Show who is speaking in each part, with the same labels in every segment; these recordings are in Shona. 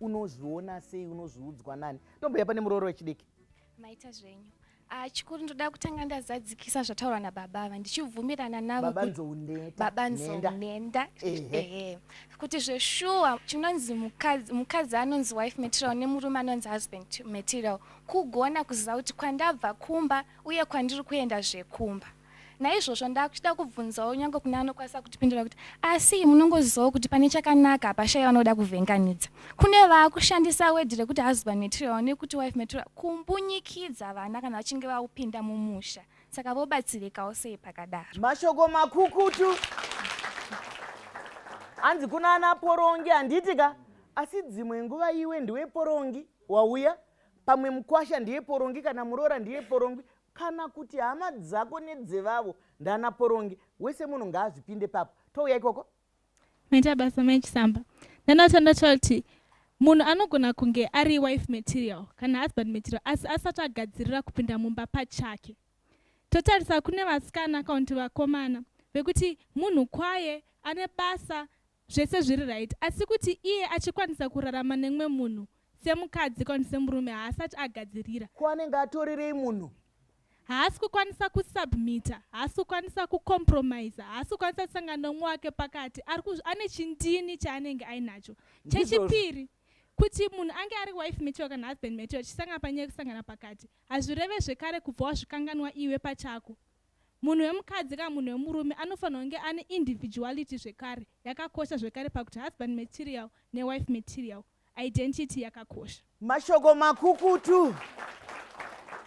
Speaker 1: unozviona sei unozviudzwa nani tomboya pane murooro wechidiki maita zvenyu
Speaker 2: ah, chikuru ndoda kutanga ndazadzikisa zvataurwa nababa ava ndichibvumirana navobaba nzounenda ehe kuti zveshuwa chinonzi mukadzi anonzi wife material nemurume anonzi husband material kugona kuziva kuti kwandabva kumba uye kwandiri kuenda zvekumba Naizvozvo ndakuchida kubvunzawo nyange kune anokwanisa kutipindura kuti asi munongozivawo kuti pane chakanaka hapashaya vanoda kuvhenganidza. Kune vaakushandisa wedhi rekuti husband material nekuti wife material kumbunyikidza vana kana vachinge vakupinda mumusha. Saka vobatsirikawo sei pakadaro? Mashoko makukutu.
Speaker 1: Hanzi kuna ana porongi handiti ka asi dzimwe nguva iwe ndiwe porongi wauya pamwe mukwasha ndiye porongi kana muroora ndiye porongi kana kuti hama dzako nedzevavo ndana porongi wese munhu ngaazvipinde papo touya ikoko maita
Speaker 3: basa mai chisamba ndanotanda choti munhu anogona kunge ari wife material kana husband material asi asati agadzirira kupinda mumba pachake totarisa kune vasikana kana kuti vakomana vekuti munhu kwaye ane basa zvese zviri right asi kuti iye achikwanisa kurarama nemwe munhu semukadzi kwani semurume haasati agadzirira ko anenge atorerei
Speaker 1: munhu haasi
Speaker 3: kukwanisa kusubmita haasi kukwanisa kucompromisa haasi kukwanisa kusangana nomwe wake pakati ane chindini chaanenge ainacho chechipiri kuti munhu ange ari wife material kana husband material chisangana panyaya yekusangana pakati hazvireve zvekare kubva wazvikanganwa iwe pachako Munhu wemukadzi kana munhu wemurume anofanirwa kunge ane individuality zvekare yakakosha zvekare pakuti husband material newife material identity yakakosha. Mashoko
Speaker 1: makukutu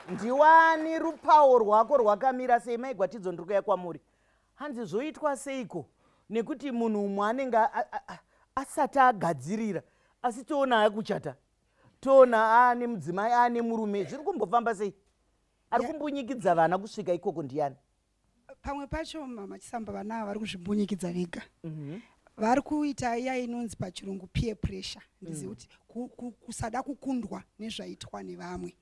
Speaker 1: Ndiwani rupawo rwako rwakamira sei mai Gwatidzo ndiri kuya kwamuri hanzi zvoitwa seiko nekuti munhu umwe anenge asati agadzirira asi toona akuchata toona aane mudzimai aane murume zviri kumbofamba sei ari kumbunyikidza vana kusvika ikoko ndiyani pamwe
Speaker 4: pacho mama chisamba vana vari kuzvimbunyikidza vega mhm. vari kuita iya inonzi pachirungu peer pressure ndizivi mm. kuti kusada kukundwa nezvaitwa nevamwe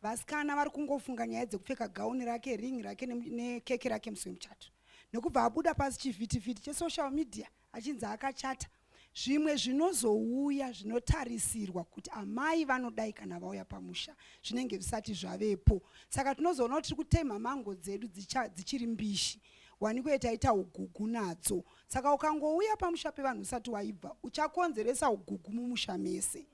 Speaker 4: vasikana vari kungofunga nyaya dzekupfeka gauni rake ring rake nekeke rake musi wemuchato nekubva abuda pasi chivhitivhiti chesocial media achinzi akachata zvimwe zvinozouya zvinotarisirwa kuti amai vanodai kana vauya pamusha zvinenge zvisati zvavepo saka tinozoona kuti tiri kutemha mango dzedu dzichiri mbishi waniko itaita ugugu nadzo saka ukangouya pamusha pevanhu usati waibva uchakonzeresa ugugu mumusha mese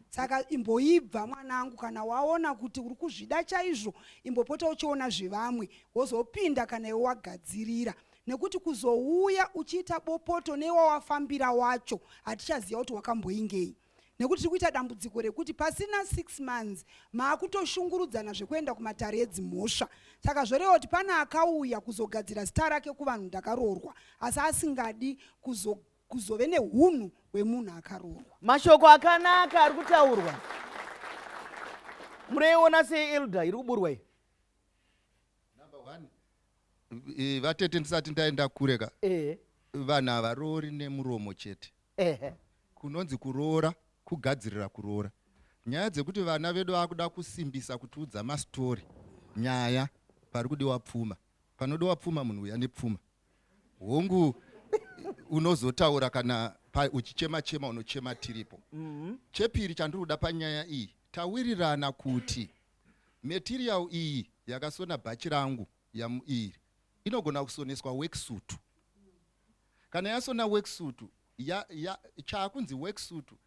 Speaker 4: saka imboibva mwanangu kana waona kuti uri kuzvida chaizvo imbopota uchiona zvevamwe wozopinda kana iwe wagadzirira nekuti kuzouya uchiita bopoto newawafambira wacho hatichaziva kuti wakamboingei nekuti tiri kuita dambudziko rekuti pasina six months maakutoshungurudzana zvekuenda kumatare edzimhosva saka zvoreva kuti pane akauya kuzogadzira zita rake kuvanhu ndakaroorwa asi asingadi kuzo kuzove nehunhu hwemunhu akaroorwa mashoko akanaka
Speaker 1: ari kutaurwa mureiona seelder iri kuburwa iyi
Speaker 5: eh, vatete ndisati ndaenda kure ka eh. vanhu havaroori nemuromo chete eh. kunonzi kuroora kugadzirira kuroora nyaya dzekuti vana vedu vakuda kusimbisa kutiudza mastori nyaya pari kudiwa pfuma panodiwa pfuma munhu uya nepfuma hongu unozotaura kana uchichema chema unochema tiripo mm -hmm. chepiri chandiri kuda panyaya iyi tawirirana kuti material iyi yakasona bhachi rangu yamuiri inogona kusoneswa weksutu kana yasona weksutu ya, ya, chaakunzi weksutu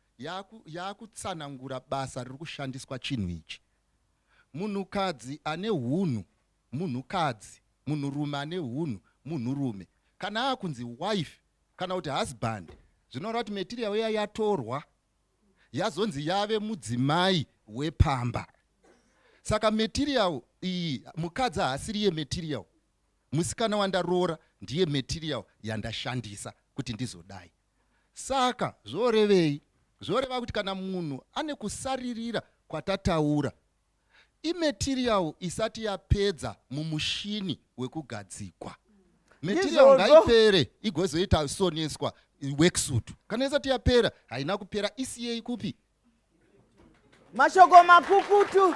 Speaker 5: yaakutsanangura basa riri kushandiswa chinhu ichi munhukadzi ane hunhu munhukadzi, munhurume ane hunhu, munhurume kana akunzi wife kana kuti husband zvinoreva kuti material iya yatorwa yazonzi yave mudzimai wepamba. Saka material iyi mukadzi haasiri yematerial, musikana wandaroora ndiye material yandashandisa kuti ndizodai. Saka zvorevei? Zvoreva kuti kana munhu ane kusaririra kwatataura imaterial isati yapedza mumushini wekugadzikwa material ngaipere igozoita soneswa worksuit kana isati yapera haina kupera isiyei kupi
Speaker 1: mashoko makukutu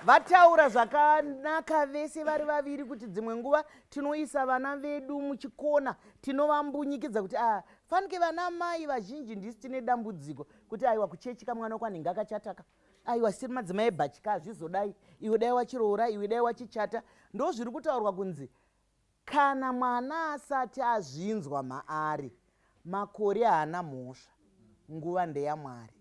Speaker 1: vataura zvakanaka vese vari vaviri kuti dzimwe nguva tinoisa vana vedu muchikona tinovambunyikidza kuti a ah, fanike vana mai vazhinji ndisi tine dambudziko kuti aiwa kuchechi kamwana uko anenge akachataka aiwa siri madzimai ebhachi ka hazvizodai iwe dai wachiroora iwe dai wachichata ndo zviri kutaurwa kunzi kana mwana asati azvinzwa maari makore haana mhosva nguva ndeyamwari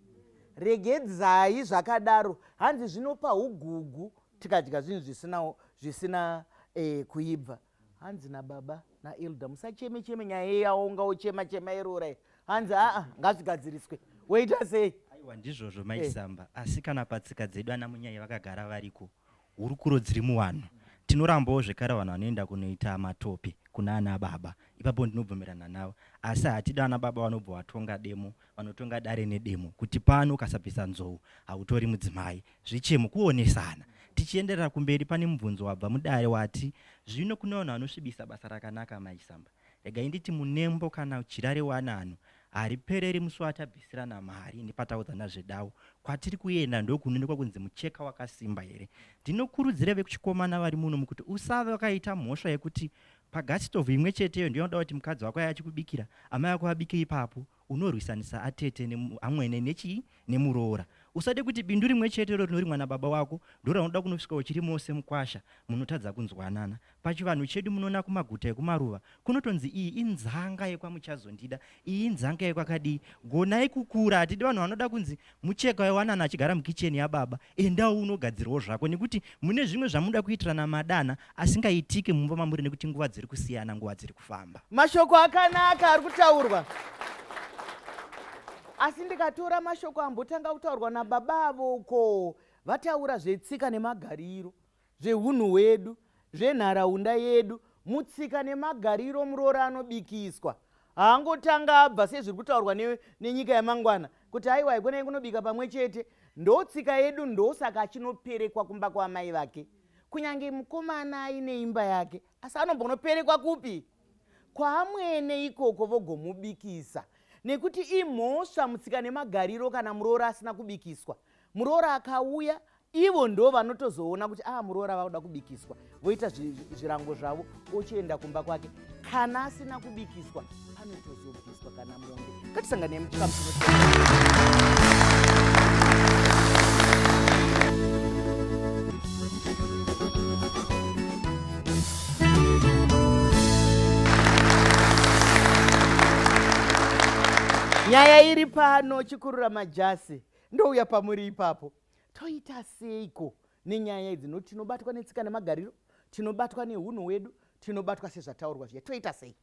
Speaker 1: regedzai zvakadaro hanzi zvinopa ugugu tikadya zvinhu zvisina zvisina eh, kuibva hanzi nababa naelder musacheme cheme nyaya iye yaonga ochema chema iroora hanzi aa ngazvigadziriswe woita sei aiwa ndizvozvo
Speaker 6: maisamba eh. asi kana patsika dzedu ana munyai vakagara variko hurukuro dziri muvanhu tinorambawo zvekare vanhu vanoenda kunoita matope kuna ana baba ipapo ndinobvumirana navo asi hatida ana baba vanobva vatonga demo vanotonga dare nedemo kuti pano ukasabvisa nzou hautori mudzimai Zvichemo kuonesana. Tichienderera kumberi pane mubvunzo wabva mudare wati zvino kune vanhu vanosvibisa basa rakanaka Mai Samba. Regai nditi munembo kana jira rewanano haripereri musi watabvisirana mari nepataudzana zvedawu kwatiri kuenda ndokunoonekwa kunzi mucheka wakasimba here. Ndinokurudzira vekuchikomana vari muno mukuti usave wakaita mhosva yekuti pagasitovu imwe cheteyo ndiyo unoda kuti mukadzi wako aye achikubikira amai vako vabike ipapo Unorwisanisa atete nemu, amwene nechii? Nemuroora. Usade kuti bindu rimwe chete iro rinorimwa nababa wako ndoraunoda kunosvika uchiri mose mukwasha munotadza kunzwanana. Pachivanhu chedu munona kumaguta ekumaruva kunotonzi iyi inzanga yekwamuchazondida, iyi inzanga yekwakadii. Gonai kukura, hatidi vanhu vanoda kunzi Mucheka waiwanana achigara mukicheni yababa, endawo unogadzirawo zvako nekuti mune zvimwe zvamunoda kuitirana madanha asingaitiki mumba mamuri nekuti nguva dziri kusiyana, nguva dziri kufamba. Mashoko akanaka
Speaker 1: ari kutaurwa asi ndikatora mashoko ambotanga kutaurwa nababa avo uko vataura zvetsika nemagariro zvehunhu hwedu, zvenharaunda yedu, mutsika nemagariro muroora anobikiswa haangotanga abva sezviri kutaurwa ne, nenyika yamangwana kuti aiwa ikonai kunobika pamwe chete ndotsika yedu ndosaka achinoperekwa kumba kwaamai vake kunyange mukomana aine imba yake asi anombonoperekwa kupi kwaamwene ikoko vogomubikisa nekuti imhosva mutsika nemagariro kana muroora asina kubikiswa muroora akauya ivo ndo vanotozoona kuti aa ah, muroora vakuda kubikiswa voita zvirango zvavo ochienda kumba kwake kana asina kubikiswa anotozobviswa kana mombe ngatisanganei muchikamu nyaya iri pano chikurura majasi ndouya pamuri ipapo Toita seiko nenyaya idzi nokuti tinobatwa netsika nemagariro, tinobatwa nehunhu hwedu, tinobatwa sezvataurwa zviya. Toita sei?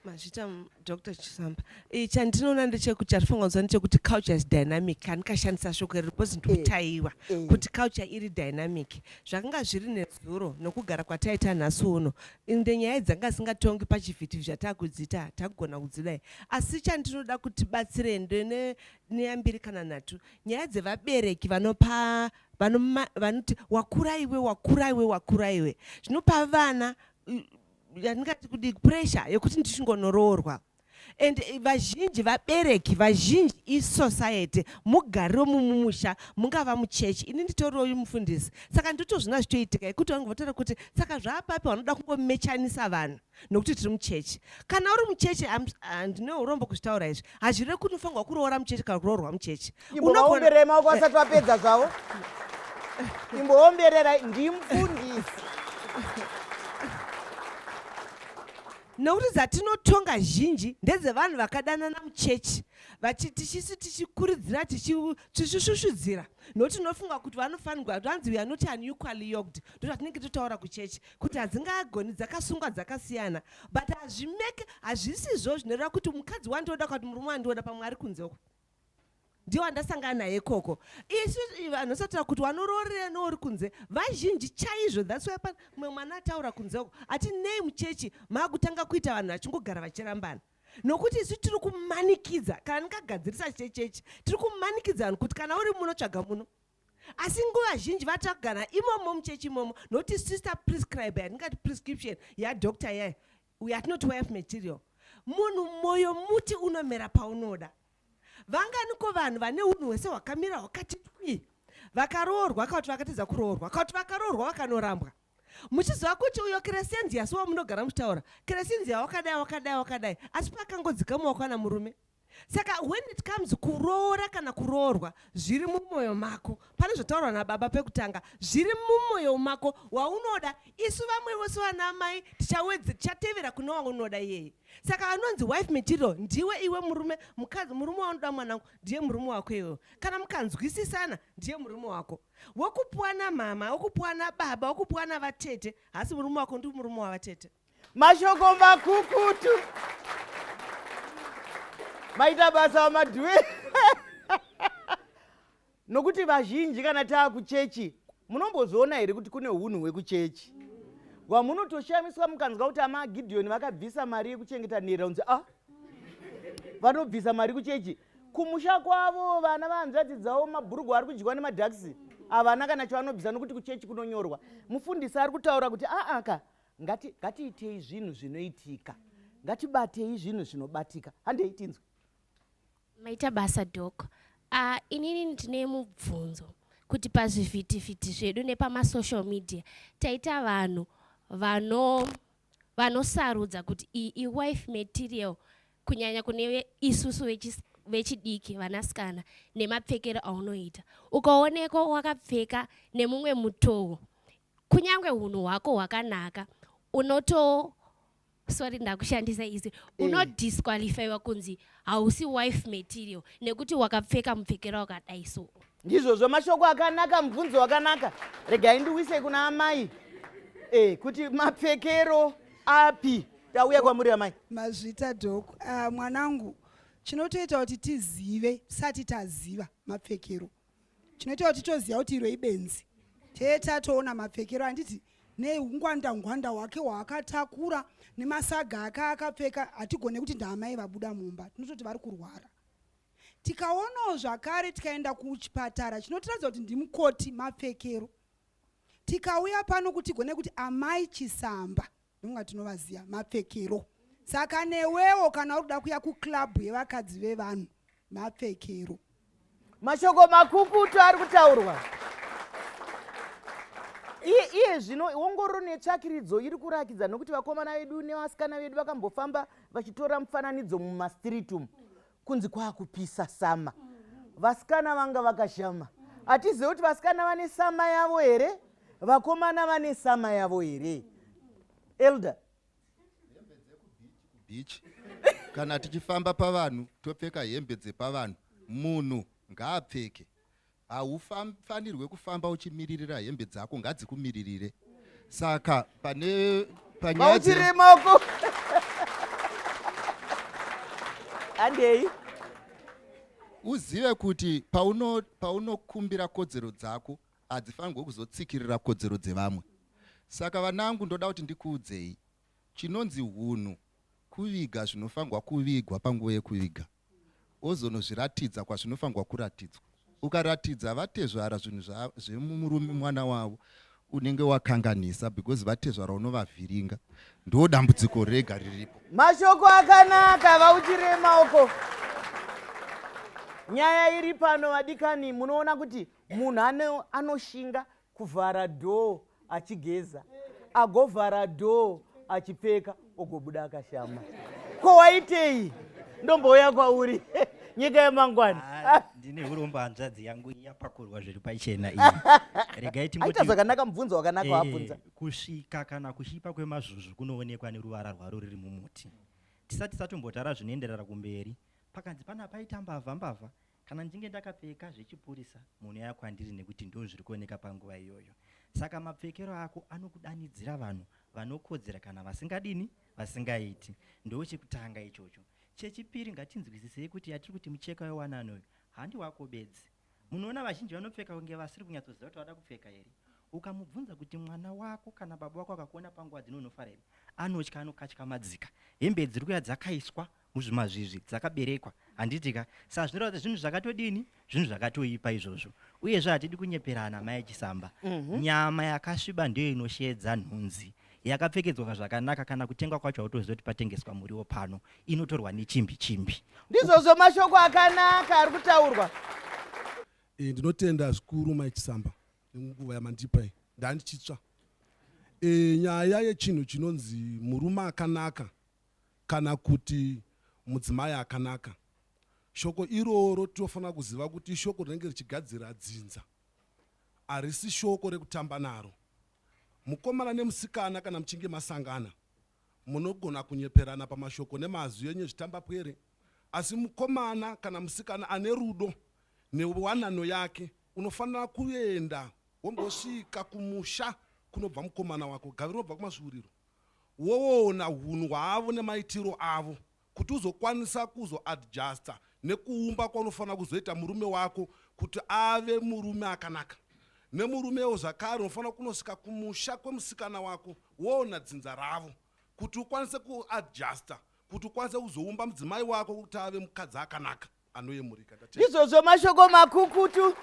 Speaker 1: mazvita
Speaker 7: dr chisamba eh, chandinoona ndechekuti chatifanira kuziva ndechekuti culture is dynamic kani kashandisa shoko iri because ndikutaiwa eh, eh. kuti culture iri dynamic zvakanga zviri nezuro nokugara kwataita nhasi uno inde nyaya dzanga singatongi pachivhiti zvatakudzita takugona kudzidai asi chandinoda kuti batsire ndene neyambiri kana nhatu Nyaya dzevabereki vanopa vanoma- vanoti wakura iwe wakura iwe wakura iwe zvinopa vana mm, yandingati kudi pressure yekuti ndichingonoroorwa and eh, vazhinji vabereki vazhinji isociety mugariro mumumusha mungava muchechi ini nditoriwo uyu mufundisi saka ndotozvina zvitoitika yekuti vangu votaura kuti saka zvaapapi vanoda kungomechanisa vanhu nokuti tiri muchechi kana uri muchechi ndine urombo kuzvitaura izvi hazvireve kuti unofanirwa kuroora muchechi kana kuroorwa muchechi unoomberera maoko
Speaker 1: asati vapedza zvavo imboomberera ndimufundisi
Speaker 7: nokuti dzatinotonga zhinji ndedzevanhu vakadanana muchechi tichisi tichikuridzira tichishushudzira nokuti tinofunga kuti vanofanirwa vanzi weare not unequally yoked ndotatinenge totaura kuchechi kuti hadzingagoni dzakasungwa dzakasiyana but hazvimeke hazvisizvo zvinoreva kuti mukadzi wandioda kuti murume wandioda pamwe ari kunze uko ndiwo andasangana naye ikoko isu vanhu sataura kuti wanoroorera nouri kunze vazhinji chaizvo thats why pana mumwe mwana ataura kunze uko ati nei muchechi maakutanga kuita vanhu vachingogara vachirambana nokuti isu tiri kumanikidza kana ndingagadzirisa chechechi tiri kumanikidza vanhu kuti kana uri muno tsvaga muno asi nguva zhinji vatagana imomo muchechi imomo nokuti sister prescribe yatingati prescription yadoctor yayo yatinoti wife material munhu mwoyo muti unomera paunoda vanganiko vanhu vane unhu hwese hwakamira hwakati twi vakaroorwa kauti vakatadza kuroorwa kauti vakaroorwa vakanorambwa muchiziva kuti uyo keresenzi yasi wamunogara muchitaura keresenzi yawakadai wakadai wakadai asi pakangodzika muwakwana murume saka when it comes kuroora kana kuroorwa zviri mumwoyo mako pane zvotaurwa nababa pekutanga zviri mumwoyo mako waunoda isu vamwe vose vana amai tichawedze tichatevera kune waunoda iyeye saka anonzi wife material ndiwe iwe murume mukadzi murume waunoda mwanangu ndiye murume wako iwewo kana mukanzwisisana ndiye murume wako wokupuwa namama wokupuwa nababa wokupuwa navatete hasi murume wako ndi murume wavatete mashoko
Speaker 1: makukutu maita basa vamadhuwe nokuti vazhinji kana taa kuchechi munombozoona here kuti kune unhu hwekuchechi wamunotoshamiswa mukanzwa kuti ama gidhiyoni vakabvisa mari yekuchengeta nherera unzi a ah, vanobvisa mari kuchechi kumusha kwavo vana vahanzvadzi dzavo mabhurugwa ari kudyiwa nemadhakisi havana kana chavanobvisa nokuti kuchechi kunonyorwa mufundisi ari kutaura kuti aaka ah, ah, Ngati, ngatiitei zvinhu zvinoitika ngatibatei zvinhu zvinobatika handei tinzwe maita
Speaker 8: basa dok uh, inini ndine mubvunzo kuti pazvivhitivhiti zvedu nepamasocial media taita vanhu vano vanosarudza kuti iyi iwife material kunyanya kune isusu vechidiki vanasikana nemapfekero aunoita ukaonekwa wakapfeka nemumwe mutowo kunyange hunhu hwako hwakanaka unoto sorry ndakushandisa izwi eh. unodisqualifyiwa kunzi hausi wife material nekuti wakapfeka mupfekero wakadai so ndizvozvo mashoko
Speaker 1: akanaka mubvunzo wakanaka regai ndiwise kuna amai e, kuti mapfekero api tauya kwamuri amai mazvita dok
Speaker 4: uh, ah, mwanangu chinotoita kuti tizive tisati taziva mapfekero chinoita kuti toziva kuti iro ibenzi tee tatoona mapfekero handiti neungwanda ngwanda wake waakatakura nemasaga ake akapfeka hatigone kuti ndaamai vabuda mumba tinototi vari kurwara tikaonawo zvakare tikaenda kuchipatara chinotiratidza kuti ndimukoti mapfekero tikauya pano kuti gone kuti amai chisamba nonga tinovaziva mapfekero saka newewo kana uri kuda kuya kuclub yevakadzi vevanhu mapfekero mashoko
Speaker 1: makukutu ari kutaurwa iye iye zvino ongororo netsvakiridzo iri kurakidza nokuti vakomana vedu nevasikana vedu vakambofamba vachitora mufananidzo mumastiriti umu kunzi kwakupisa sama vasikana vanga vakashama hatizive kuti vasikana vane sama yavo here vakomana vane sama yavo here elder
Speaker 5: beach kana tichifamba pavanhu topfeka hembe dzepavanhu munhu ngaapfeke Haufanirwe kufamba uchimiririra hembe dzako ngadzikumiririre. Saka pane panyaya dze- Mauchirima
Speaker 1: uko. Andei.
Speaker 5: uzive kuti pauno- paunokumbira kodzero dzako hadzifanirwe kuzotsikirira kodzero dzevamwe saka vanangu ndoda kuti ndikuudzei Chinonzi hunhu kuviga zvinofanirwa kuvigwa panguva yekuviga ozonozviratidza kwazvinofanirwa kuratidzwa. Ukaratidza vatezvara zvinhu zvemurume mwana wavo unenge wakanganisa because vatezvara unovavhiringa ndo dambudziko rega riripo. Mashoko
Speaker 1: akanaka vauchirema uko. Nyaya iri pano vadikani munoona kuti munhu anoshinga kuvhara door achigeza agovhara door achipfeka ogobuda akashama ko waitei ndombouya kwauri nyika yemangwana ah, ndine urombo
Speaker 6: hanzvadzi yangu yapakurwa zviri pachena iyi regai tingoita zvakanaka
Speaker 1: mubvunzo wakanaka eh, wabvunza e, kusvika kana
Speaker 6: kuchipa kwemazvuzvu kunoonekwa neruvara rwaro riri mumuti tisati tatombotara zvinoenderera kumberi pakanzi pana paita mbavha mbavha Kana ndichinge ndakapfeka zvechipurisa munhu uya kwandiri nekuti ndizvo zviri kuoneka panguva iyoyo. Saka mapfekero ako anokudanidzira vanhu vanokodzera kana vasingadini vasingaiti. Ndoo chekutanga ichocho. Chechipiri ngatinzwisisei kuti yatiri kuti mucheka wewanano uyu handi wako bedzi. Munoona vazhinji vanopfeka kunge vasiri kunyatsoziva kuti vada kupfeka here. Ukamubvunza kuti mwana wako kana baba wako akakuona panguva dzino unofara here anotya anokatyamadzika. Hembe dziri kuya dzakaiswa muzvimazvizvi dzakaberekwa handiti ka saa zvinoreva kuti zvinhu zvakatodini zvinhu zvakatoipa izvozvo uyezve hatidi kunyeperana mai chisamba mm -hmm. nyama yakasviba ndiyo inoshedza nhunzi yakapfekedzwa zvakanaka kana kutengwa kwacho hautoziva kuti patengeswa muriwo pano inotorwa nechimbi
Speaker 1: chimbi
Speaker 6: ndizvozvo
Speaker 1: mashoko akanaka ari kutaurwa e,
Speaker 9: ndinotenda zvikuru mai chisamba nenguva yamandipa iyi ndandichitsva e, nyaya yechinhu chinonzi murume akanaka kana kuti mudzimai akanaka. Shoko iroro tinofanira kuziva kuti ishoko rinenge richigadzira dzinza, harisi shoko rekutamba naro. Mukomana nemusikana kana muchinge masangana, munogona kunyeperana pamashoko nemazwi enyu ezvitambapwere, asi mukomana kana musikana ane rudo newanano yake unofanira kuenda wombosvika kumusha kunobva mukomana wako, gave rinobva kumasvuuriro. woona hunhu hwavo nemaitiro avo kuti uzokwanisa kuzoadjuster nekuumba kwaunofanira kuzoita murume wako kuti ave murume akanaka. Nemurumewo zvakare unofanira kunosvika kumusha kwemusikana wako woona dzinza ravo kuti ukwanise kuadjuster kuti ukwanise kuzoumba mudzimai wako kuti ave mukadzi akanaka. anoyemurika ndizvozvo mashoko
Speaker 1: makukutu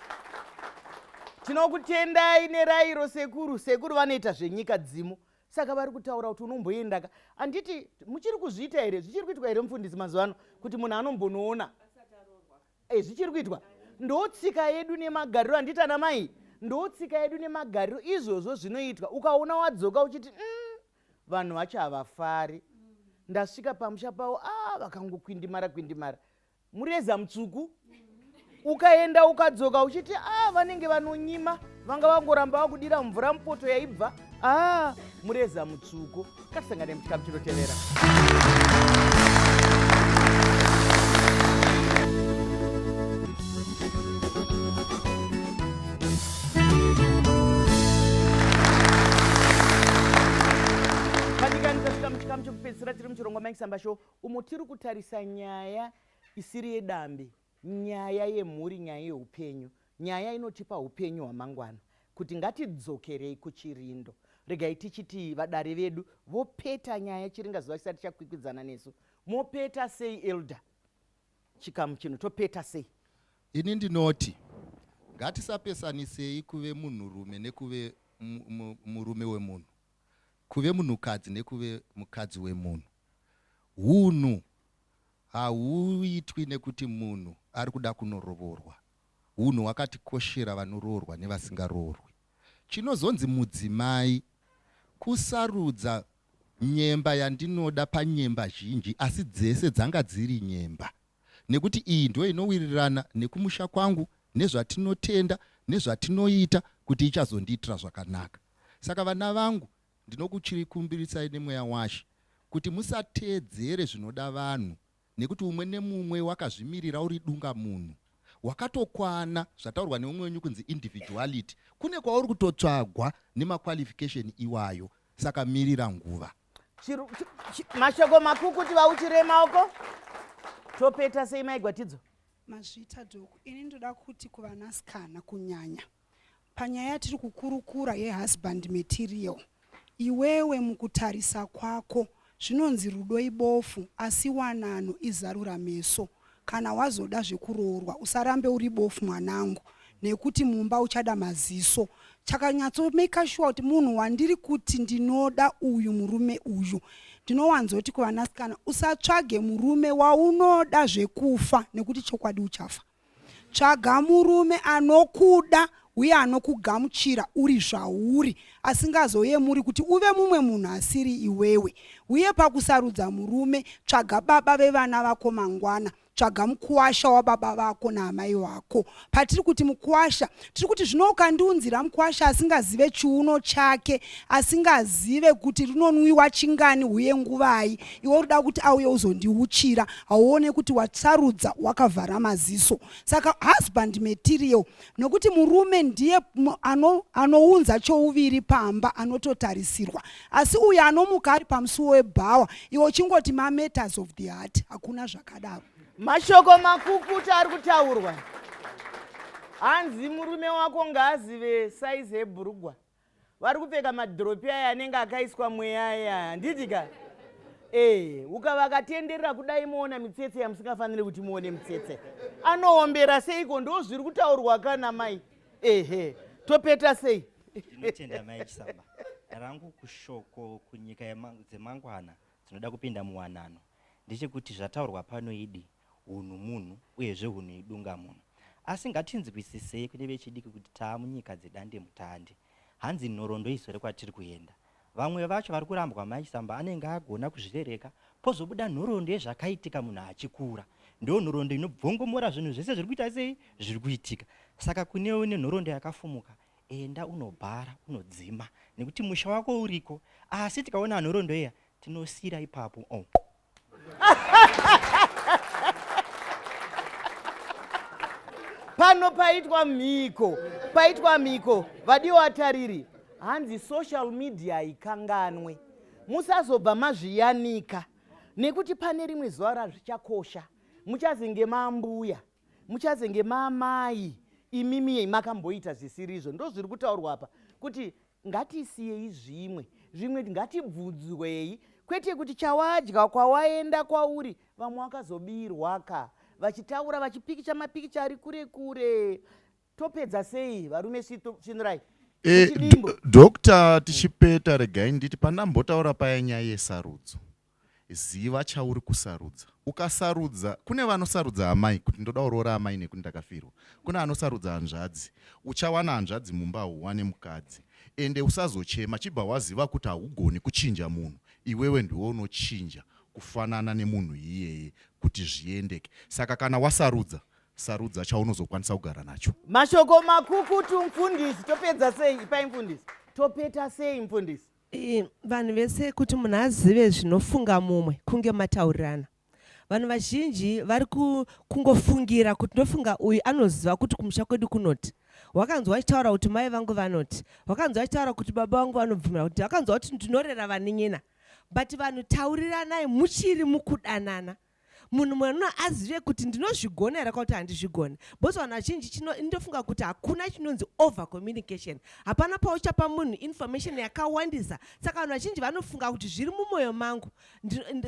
Speaker 1: tinokutendai nerairo sekuru sekuru vanoita zvenyika dzimu saka vari kutaura kuti unomboendaka handiti muchiri kuzviita here zvichiri kuitwa here mufundisi mazuva ano kuti munhu anombonoona eh, zvichiri kuitwa ndotsika yedu nemagariro handiti ana mai ndotsika yedu nemagariro izvozvo zvinoitwa ukaona wadzoka uchiti mm, vanhu vacho havafari ndasvika pamusha pavo a ah, vakangokwindimara kwindimara mureza mutsvuku ukaenda ukadzoka uchiti a ah, vanenge vanonyima vanga vangoramba vakudira mvura mupoto yaibva a ah, mureza mutsvuku katisangane muchikamu chinotevera chikamu chekupedzisira tiri muchirongwa mike samba show umo tiri kutarisa nyaya isiri yedambe nyaya yemhuri nyaya yeupenyu nyaya inotipa upenyu hwamangwana kuti ngatidzokerei kuchirindo regai tichiti vadare vedu vopeta nyaya chiringazuva chisati chakwikwidzana nesu mopeta sei elder Chikamu chino topeta sei? Ini ndinoti
Speaker 5: ngatisapesanisei kuve munhurume nekuve murume wemunhu, kuve munhukadzi nekuve mukadzi wemunhu. Hunhu hauitwi nekuti munhu ari kuda kunorovorwa. Hunhu hwakatikoshera vanoroorwa nevasingaroorwi. Chinozonzi mudzimai kusarudza Nyemba yandinoda panyemba zhinji asi dzese dzanga dziri nyemba nekuti iyi ndiyo inowirirana nekumusha kwangu nezvatinotenda nezvatinoita kuti ichazondiitira zvakanaka saka vana vangu ndinokuchirikumbiritsai nemweya washe kuti musateedzere zvinoda vanhu nekuti umwe nemumwe wakazvimirira uri dunga munhu wakatokwana zvataurwa neumwe wenyu kunzi individuality kune kwauri kutotsvagwa nemaqualification iwayo saka mirira nguva
Speaker 1: mashoko makukuti vauchire maoko topeta sei maigwatidzo mazvita
Speaker 4: doko ini ndoda kuti kuvanasikana kunyanya Panyaya yatiri kukurukura yehusband material, iwewe mukutarisa kwako zvinonzi rudo ibofu asi wanano izarura meso. Kana wazoda zvekuroorwa usarambe uri bofu mwanangu nekuti mumba uchada maziso. Chakanyatsomaker sure kuti munhu wandiri kuti ndinoda uyu murume uyu ndinowanzoti kuvanasikana usatsvage murume waunoda zvekufa nekuti chokwadi uchafa. Tsvaga murume anokuda uye anokugamuchira uri zvauri, asingazoyemuri kuti uve mumwe munhu asiri iwewe. Uye pakusarudza murume, tsvaga baba vevana vako mangwana. Tsvaga mukuwasha wababa vako naamai vako. Patiri kuti mukuwasha, tiri kuti zvino ukandiunzira mkwasha asingazive chiuno chake asingazive kuti rinonwiwa chingani uye nguvai iwe urida kuti auye uzondiuchira hauone kuti wasarudza wakavhara maziso saka husband material nokuti murume ndiye ano, anounza chouviri pamba anototarisirwa asi uyo anomuka ari pamusuwo webhawa iwe uchingoti mametas of the heart hakuna zvakadaro mashoko
Speaker 1: makukuta ari kutaurwa hanzi murume wako ngaazive saizi ebhurugwa vari kupfeka madhiropi aya anenge akaiswa mweya aya handiti ka ee ukavakatenderera kudai moona mitsetse yamusingafaniri kuti muone mitsetse anoombera seiko ndo zviri kutaurwa kana mai ehe topeta sei ndinotenda mai
Speaker 6: chisamba rangu kushoko kunyika dzemangwana Tinoda kupinda muwanano ndechekuti zvataurwa pano idi hunhu munhu uyezve hunhu idunga munhu. Asi ngatinzwisisei kune vechidiki kuti taamunyika dzedande mutande. Hanzi nhorondo izore kwatiri kuenda. Vamwe vacho vari kurambwa maisamba anenge agona kuzvirereka pozobuda nhorondo yezvakaitika munhu achikura. Ndiyo nhorondo inobvongomora zvinhu zvese zviri kuita sei zviri kuitika. Saka kune une nhorondo yakafumuka enda unobhara unodzima nekuti musha wako uriko asi tikaona anhorondo iya tinosira ipapo oh.
Speaker 1: pano paitwa mhiko paitwa mhiko vadiwo vatariri hanzi social media ikanganwe musazobva mazviyanika nekuti pane rimwe zuva razvichakosha muchazinge mambuya muchazenge maamai imimie makamboita zvisirizvo ndozviri kutaurwa apa kuti ngatisiyei zvimwe zvimwe ngatibvunzwei kwete kuti chawadya kwawaenda kwauri vamwe wakazobirwa ka vachitaura vachipikicha mapikicha ari kure kure topedza sei varume svinurai eh,
Speaker 10: doctor tichipeta regai nditi pandambotaura paya nyaya yesarudzo Ziva chauri kusarudza. Ukasarudza, kune vanosarudza amai kuti ndoda kuroora amai nekuti ndakafirwa. Kune anosarudza hanzvadzi. Uchawana hanzvadzi mumba hauwane mukadzi. Ende usazochema chibva waziva kuti haugoni kuchinja munhu. Iwewe ndiwe unochinja kufanana nemunhu iyeye kuti zviendeke. Saka kana wasarudza, sarudza chaunozokwanisa kugara nacho. Mashoko makukutu
Speaker 1: mfundisi. Topedza sei? Ipai mfundisi. Topeta sei mfundisi? Eh, vanhu
Speaker 7: vese kuti munhu azive zvinofunga mumwe kunge mataurirana vanhu vazhinji vari kungofungira kuti ndofunga uyu anoziva kuti kumusha kwedu kunoti wakanzwa achitaura kuti mai vangu vanoti wakanzwa achitaura kuti baba vangu vanobvumira kuti wakanzwa kuti ndinorera vaninyina but vanhu tauriranai muchiri mukudanana munhu mwana azive kuti ndinozvigona here kwakuti handizvigone because vanhu vazhinji chino indofunga kuti hakuna chinonzi over communication hapana pauchapa munhu information yakawandisa saka vanhu vazhinji vanofunga kuti zviri mumwoyo mangu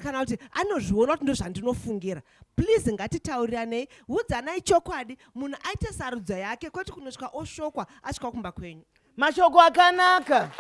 Speaker 7: kana kuti anozviona kuti ndozvandinofungira please ngatitauriranei udzanai chokwadi munhu aite sarudzo yake kwoti kunosvika oshokwa asvika kumba kwenyu mashoko
Speaker 1: akanaka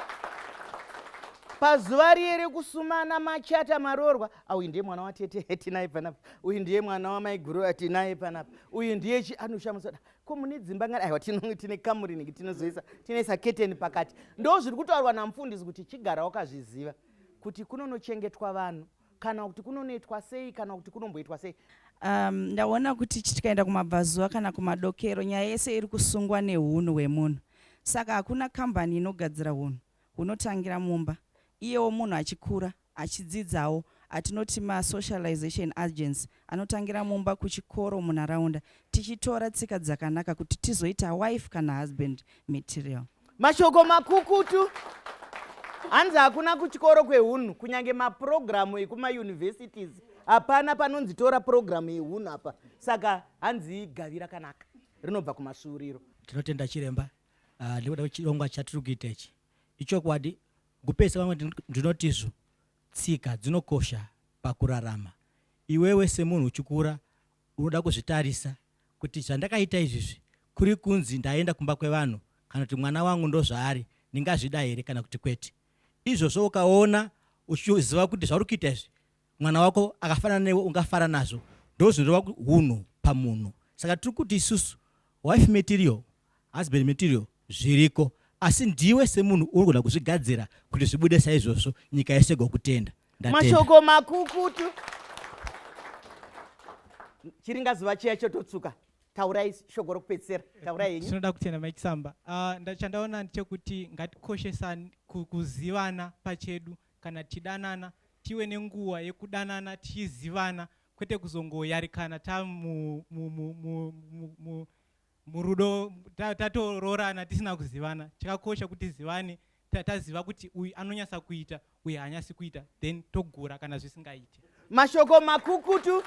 Speaker 1: pazuva riye rekusumana machata maroorwa ah, uyu ndiye mwana watete hetinaye panapa uyu ndiye mwana wamaiguru atinaye panapa uyu ndiye chi anoshamusoda ko mune dzimba ngani aiwa tine kamuri niki tinozoisa tinoisa keteni pakati ndo zviri kutaurwa namufundisi kuti chigara wakazviziva kuti kunonochengetwa vanhu kana kuti kunonoitwa sei kana kuti kunomboitwa sei um, ndaona
Speaker 11: kuti tikaenda kumabvazuva kana kumadokero nyaya yese iri kusungwa neunhu hwemunhu saka hakuna kambani inogadzira unhu hunotangira mumba iyewo munhu achikura achidzidzawo atinoti masocialization agency anotangira mumba kuchikoro munharaunda tichitora tsika dzakanaka kuti tizoita wife kana husband material mashoko
Speaker 1: makukutu hanzi hakuna kuchikoro kwehunhu kunyange mapurogiramu ekumauniversities hapana panonzi tora purogiramu yehunhu apa saka hanzi gavi rakanaka rinobva kumasvuuriro tinotenda chiremba
Speaker 12: ah, nekuda kwechirongwa chatiri kuita ichi ichokwadi kupesa vamwe ndinotizvo Tsika dzinokosha pakurarama. Iwewe semunhu uchikura unoda kuzvitarisa kuti zvandakaita izvizvi kuri kunzi ndaenda kumba kwevanhu kana kuti mwana wangu ndozvaari ndingazvida here kana kuti kwete. Izvozvo ukaona uchiziva kuti zvauri kuita izvi mwana wako akafanana newe ungafara nazvo ndozvinoreva hunhu pamunhu. Saka tiri kuti isusu wife material husband material zviriko asi ndiwe semunhu unogona kuzvigadzira kuti zvibude saizvozvo nyika yese gokutenda mashoko
Speaker 1: makukutu chiringa zuva chiya chototsuka taurai shoko rokupedzisira taurai henyu tinoda kutenda mai chisamba
Speaker 13: ah, chandaona ndechekuti ngatikoshesani kuzivana pachedu kana tichidanana tive nenguva yekudanana tichizivana kwete kuzongoyarikana ta murudo tatoroorana tisina kuzivana chakakosha kuti zivane taziva kuti uyu anonyasa kuita uyu haanyasi kuita then togura kana zvisingaiti mashoko
Speaker 1: makukutu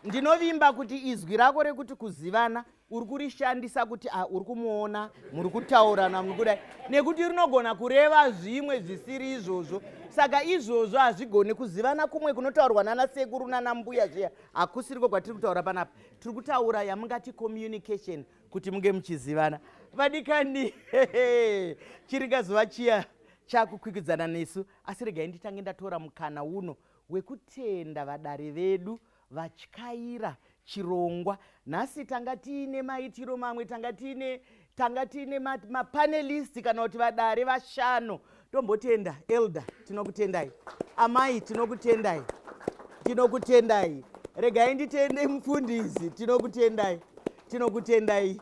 Speaker 1: ndinovimba kuti izwi rako rekuti kuzivana uri kurishandisa kuti ah, uri kumuona muri kutaurana muri kudai nekuti rinogona kureva zvimwe zvisiri izvozvo saka izvozvo hazvigoni kuzivana kumwe kunotaurwa nana sekuru nana mbuya zviya hakusiriko kwatiri kutaura panapa tiri kutaura yamungati communication kuti munge muchizivana vadikani chiringa zuva chiya chakukwikwidzana nesu asi regai nditange ndatora mukana uno wekutenda vadare vedu vatyaira chirongwa nhasi tanga tiine maitiro mamwe tanga tiine tanga tiine mapanelisti kana kuti vadare vashanu tombotenda elder tinokutendai amai tinokutendai tinokutendai regai nditende mufundisi tinokutendai tinokutendai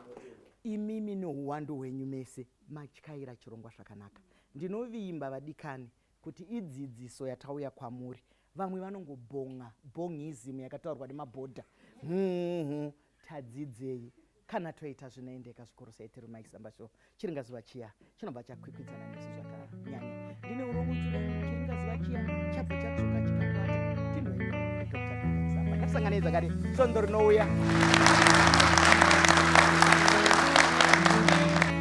Speaker 1: imimi nouwandu hwenyu mese matyaira chirongwa zvakanaka ndinovimba vadikani kuti idzidziso yatauya kwamuri Vamwe vanongobhonga bhongizim yakataurwa nemabhodha. Hunhu tadzidzei kana toita zvinoendeka zvikuru sei tiri Mike Samba Show. Chiringazuva chiya chinobva chakwikwidzana nesu zvakanyanya. Ndine uromudzire chiringazuva chiya chabva chatsvuka chikakwata. Tinoi Dr. Mike Samba. Ngatisanganei zvakare svondo rinouya.